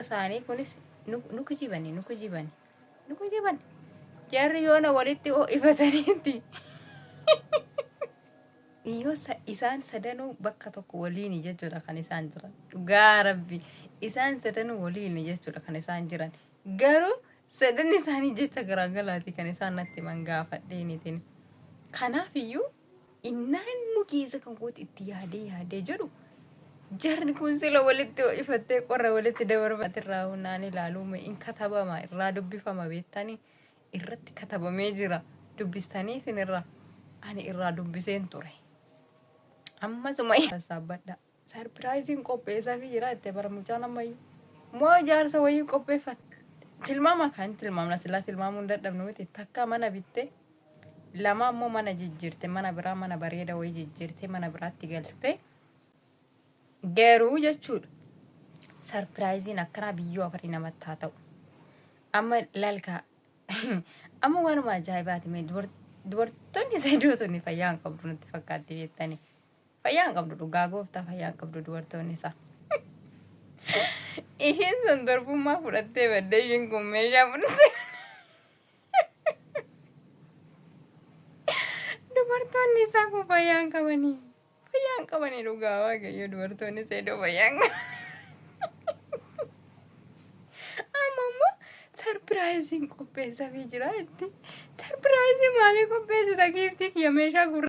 isaanii kunis nu kijibani nu kijibani nu kijibani jarri yoona walitti ho'ifataniitti yoo isaan sadanuu bakka tokko waliin jechuudha kan isaan jiran dhugaa rabbi isaan sadanuu waliin jechuudha kan isaan jiran garuu sadan isaanii jecha garaagaraati kan isaan natti himan gaafadheenitiin kanaaf iyyuu innaan nu keessa kan kooti itti yaadee yaadee jedhu jarri kun sila walitti ho'ifattee qorra walitti dabarfate irraa hunaan ilaaluume in katabama irraa dubbifama beektanii irratti katabamee jira dubbistanii isinirraa ani irraa dubbiseen ture amma suma sassaabbadha. Sarpiraayiziin qopheessaafii jira itti bara mucaan ammayyuu. Moo ijaarsa wayii qopheeffatte. Tilmaama kan tilmaamna silaa tilmaamuun dadhabnu miti takka mana bitte lama ammoo mana jijjiirte mana biraa mana bareeda wayii jijjiirte mana biraatti galte garuu jechuudha. Sarpiraayiziin akkanaa biyyoo afarii namatti haa ta'u. Amma lalkaa amma waanuma ajaa'ibaati mee dubartoonni saydoo tuni fayyaa hin qabdu nutti fakkaatti beektanii. Fayyaa hin qabdu dhugaa gooftaa fayyaa hin qabdu dubartoonni isaa. Ishiin sun durbummaa fudhattee badde ishiin kun meeshaa fudhattee. Dubartoonni isaa kun fayyaa hin qabanii. Fayyaa hin qabanii dhugaa waaqayyo dubartoonni isaa iddoo fayyaa hin qabanii. Amma immoo sarpiraayiziin qopheessafii jira itti. Sarpiraayizii maalii qopheessita giiftii kiyya meeshaa gurra.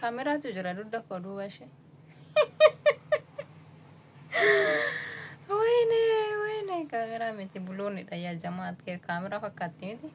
Kaameraatu jira dugda koo duuba ishee. Wayne wayne kaameraa miti buloonidha yaa jamaat kee kaameraa fakkaatti miti.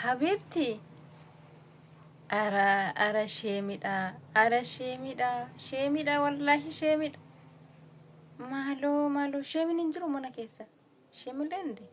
Habiibti ara ara sheemidha ara sheemidha sheemidha wallaahi sheemidha. Maaloo maaloo sheemin hin jiru mana keessa sheemillee hin jiru.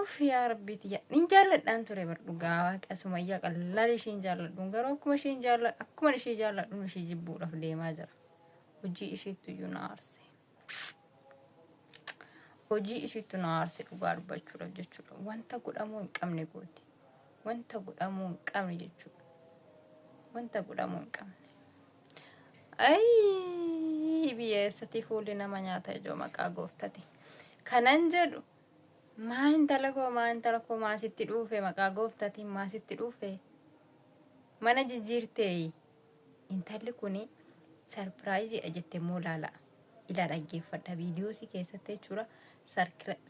Uff yaa rabbii tiyya nin jaalladhaan ture bar dhugaa waaqa sumayyaa qallaal ishiin jaalladhuun garuu akkuma ishiin jaalladhu akkuma ishii jaalladhuun ishii jibbuudhaaf deemaa jira hojii ishiittu iyyuu na aarse hojii ishiittu na aarse dhugaa dubbachuudhaaf jechuudha wanta godhamuu hin qabne gooti wanta godhamuu hin qabne jechuudha wanta godhamuu hin qabne ayii biyya eessatti fuulli nama nyaata ijoo maqaa gooftati kanan jedhu Maa intala koo maa intala koo maa sitti dhuufe maqaa gooftatiin maa sitti dhuufe mana jijjiirteeyi intalli kuni sarpiraayiziidha jette immoo laala ilaa dhaggeeffadha viidiyoosii keessatti jechuudha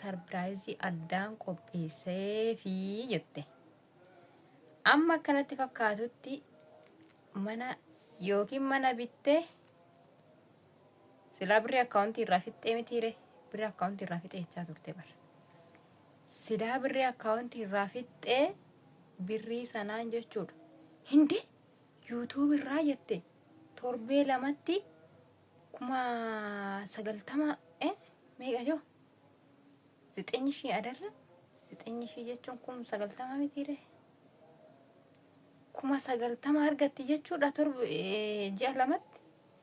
sarpiraayizii addaan qopheesseefi jette amma akkanatti fakkaatutti mana yookiin mana bittee Silaa birri akkaawuntii irraa fixxee mitiire birri akkaawuntii irraa fixee jechaa turte bar. Silaa birri akkaawuntii irraa fixxee birrii sanaan jechuudha. Hindi yuutuub irraa jette torbee lamatti kuma sagaltama eh meeqa joo? Zixenyi shii adarra zixenyi shii jechuun kun sagaltama mitiire. Kuma sagaltama argatti jechuudha torbe eh, ji'a lamatti.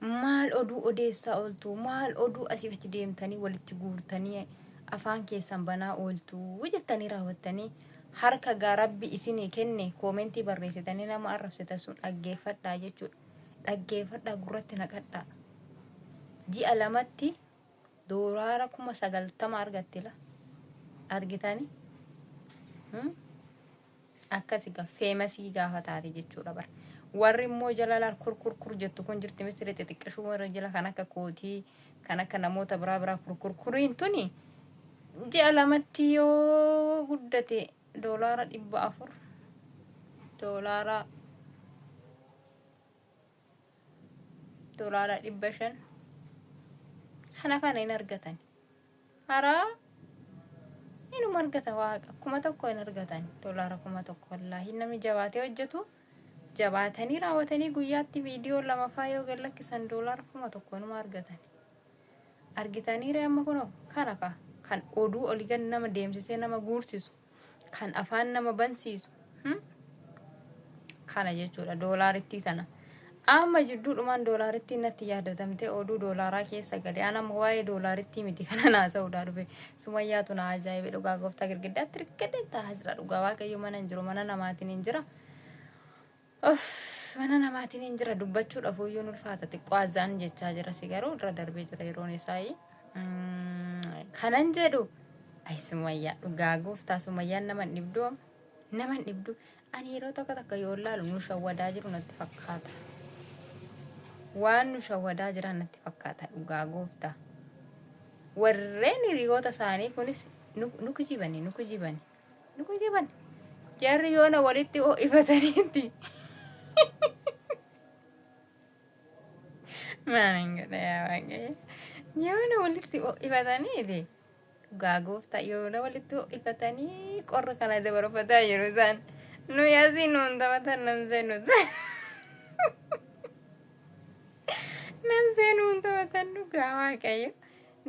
Maal oduu odeessaa ooltuu? Maal oduu asiif achi deemtanii walitti guurtanii afaan keessan banaa ooltuu? jettanii raawwattanii harka gaa rabbi isinii kenne koomentii barreessitanii nama arrabsitan sun dhaggeeffadhaa jechuudha. Dhaggeeffadhaa gurratti naqadhaa. Ji'a lamatti doolaara kuma sagaltama argattila. Argitanii? Hmm? Akkas egaa feemasii gaafa taate jechuudha bar. Warri immoo jala laal kur kur kur jettu kun jirti miti rixi xiqqishuu warra jala kan akka kootii kan akka namoota biraa biraa kur kur kuriin tuni ji'a lamatti yoo guddate doolaara dhibba afur doolaara dolaara dhibba shan kana kana hin argatan haraa inuma argata waaqa kuma tokko hin argatan dolaara kuma tokko wallaahi namni jabaatee hojjetu jabaatanii raawwatanii guyyaatti viidiyoo lamafaa yoo gad lakkisan dolaara kuma tokko inuma argatan argitaniire amma kunoo kana ka kan oduu olii gad nama deemsisee nama guursisu kan afaan nama bansiisu hmm? kana jechuudha doolaarittii sana amma jidduudhumaan doolaarittii natti yaadatamte oduu doolaaraa keessa gale an amma waa'ee doolaarittii miti kana naasa'uudhaa dhufe sumayyaatu na ajaa'ibe dhugaa gooftaa girgiddaatti rikkadheen taa'aa jira dhugaa waaqayyo mana hin jiru mana namaatiin hin jira Uff mana namaatiin hin jira dubbachuudhaaf iyyuu hin ulfaata xiqqoo azaan jechaa jira si garuu irra darbee jira yeroon isaa kanan jedhu ay sumayyaa dhugaa gooftaa sumayyaan nama hin dhibdu am nama hin dhibdu ani yeroo tokko takka yoo laalu nu shawwadaa jiru natti fakkaata waan nu shawwadaa jiran natti fakkaata dhugaa gooftaa warreen hiriyoota isaanii kunis nu nu kijibani nu kijibani Ni kujiban. Jarri yoona walitti ho'ifataniitti. Maaliin godha yaa waaqayyo. Yoona walitti ho'ifataniiti. Dhugaa gooftaa yoona walitti ho'ifatanii qorra kana dabarfataa jiru isaan. Nu yaasii nuun taphatan namsee nu namsee nuun taphatan dhugaa waaqayyo.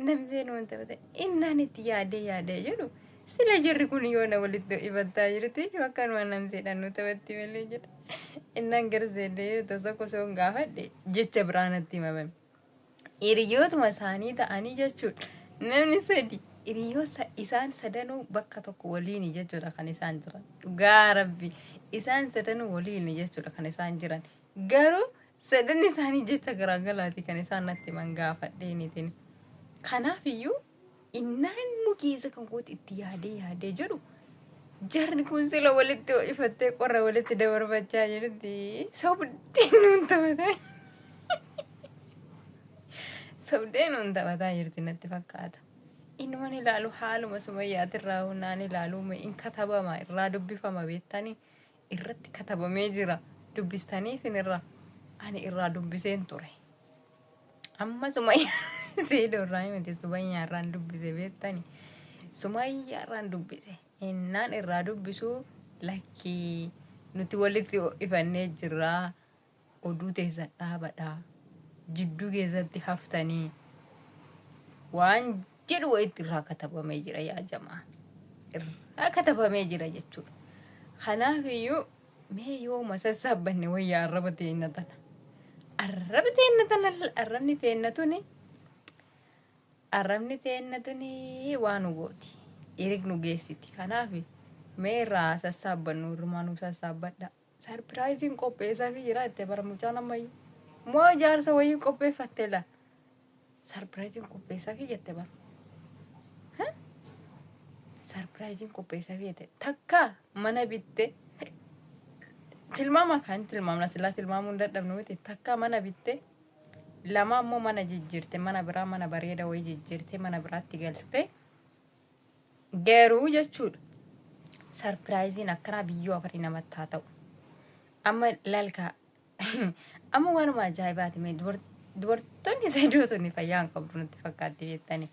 Namseen wanta bata innaan itti yaadee yaadee jedhu sila jirri kun yoo na walitti ibattaa jirti iyyuu akkanuma namseedhaan nu taphatti malee jedha. Innaan garseedee tosa kosoon gaafadhe jecha biraa natti himamame. Hiriyootuma isaanii ta'anii jechuudha. Namni sadi hiriyoo isaan sadanuu bakka tokko waliini jechuudha kan isaan jiran. Dhugaa rabbi isaan sadanuu waliini jechuudha kan isaan jiran. Garuu sadanni isaanii jecha garaa galaati kan isaan natti himan gaafadheeniitiin. Kanaaf iyyuu innaan immoo keessa kan kooti itti yaadee yaadee jedhu jarri kun sila walitti ho'ifattee qorra walitti dabarfachaa jirti. Sobdee nuun taphataa sobdee nuun taphataa jirti natti fakkaata. Inni waan ilaalu haaluma sumayyaatirraa naan ilaalu in katabama irraa dubbifama beektanii. irratti katabamee jira dubbistanii isinirra ani irraa dubbiseen ture amma sumayyaa seedoo irraa miti sumayyaa irraan dubbise beektani sumayyaa irraan dubbise innaan irraa dubbisuu lakkii nuti walitti ifannee jirraa Oduu teessan dhaabadha. Jidduu keessatti haftanii waan jedhu wayitti irraa katabamee jira yaa jamaa. Irraa katabamee jira jechuudha. Kanaaf iyyuu mee yoo masassaabbanne wayyaa arraba teenna tana. Arraba teenna tana arrabni teenna tuni arrabni teenna tuni waa nu gooti. Irig nu geessiti. Kanaaf mee irraa sassaabbannu irrumaa nu sassaabbadha. Sarpiraayiziin qopheessaafi jira itti bara mucaan ammayyu. Moo ijaarsa wayii qopheeffatte la. Sarpiraayiziin qopheessaafi jette bara. Ha? Sarpiraayiziin qopheessaafi jette. Takka mana bitte. Tilmaama kan tilmaamna silaa tilmaamuu hin dadhabnu miti. Takka mana bitte. Lama ammoo mana jijjiirte mana biraa mana bareeda wayii jijjiirte mana biraatti galte. Garuu jechuudha sarpiraayiziin akkanaa biyyoo afarii namatti haa ta'u. Amma lalkaa amma waanuma ajaa'ibaati mee dubartoonni sadootonni fayyaa hin qabdu nutti fakkaatti beektanii.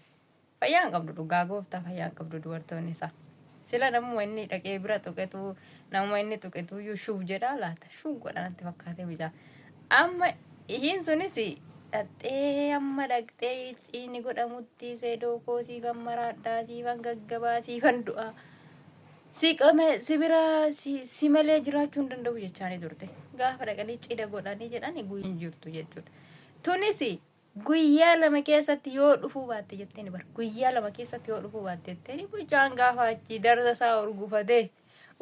Fayyaa hin qabdu dhugaa gooftaa fayyaa hin qabdu dubartoonni isaa. Sila namuma inni dhaqee bira tuqetu namuma inni tuqetu iyyuu shuub jedhaa laata shuub godha natti fakkaatee mucaa. Amma ishiin sunis dhaxxee amma dhaqxee ciini godhamutti seedoo koo siifan maraadhaa siifan gaggabaa siifan du'aa si qame si bira si, si malee jiraachuu hin danda'u jechaanii turte gaafa dhaqanii cida godhanii jedhani guyyaan jirtu jechuudha tunis Guyyaa lama keessatti yoo dhufuu baatte jetteeni bar guyyaa lama keessatti yoo dhufuu baatte jetteeni mucaan gaafa achii darza isaa urgufatee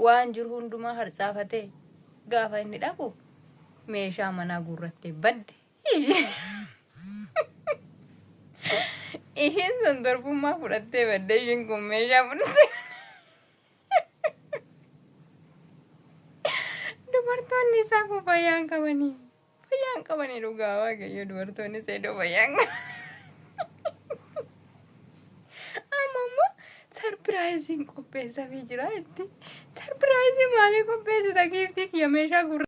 waan jiru hundumaa harcaafatee gaafa inni dhaqu meeshaa manaa guurrattee badde. Ishee- Ishiin sun durbummaa fudhattee badde ishiin kun meeshaa fudhattee. Dubartoonni isaa kubbayyaan qabanii. Fayyaan qabanii dhugaa waaqayyo dubartoonni seedoo fayyaan Amma immoo sarpiraayiziin qopheessafii jira itti. Sarpiraayizii maalii qopheessita giiftii kiyya meeshaa gurra.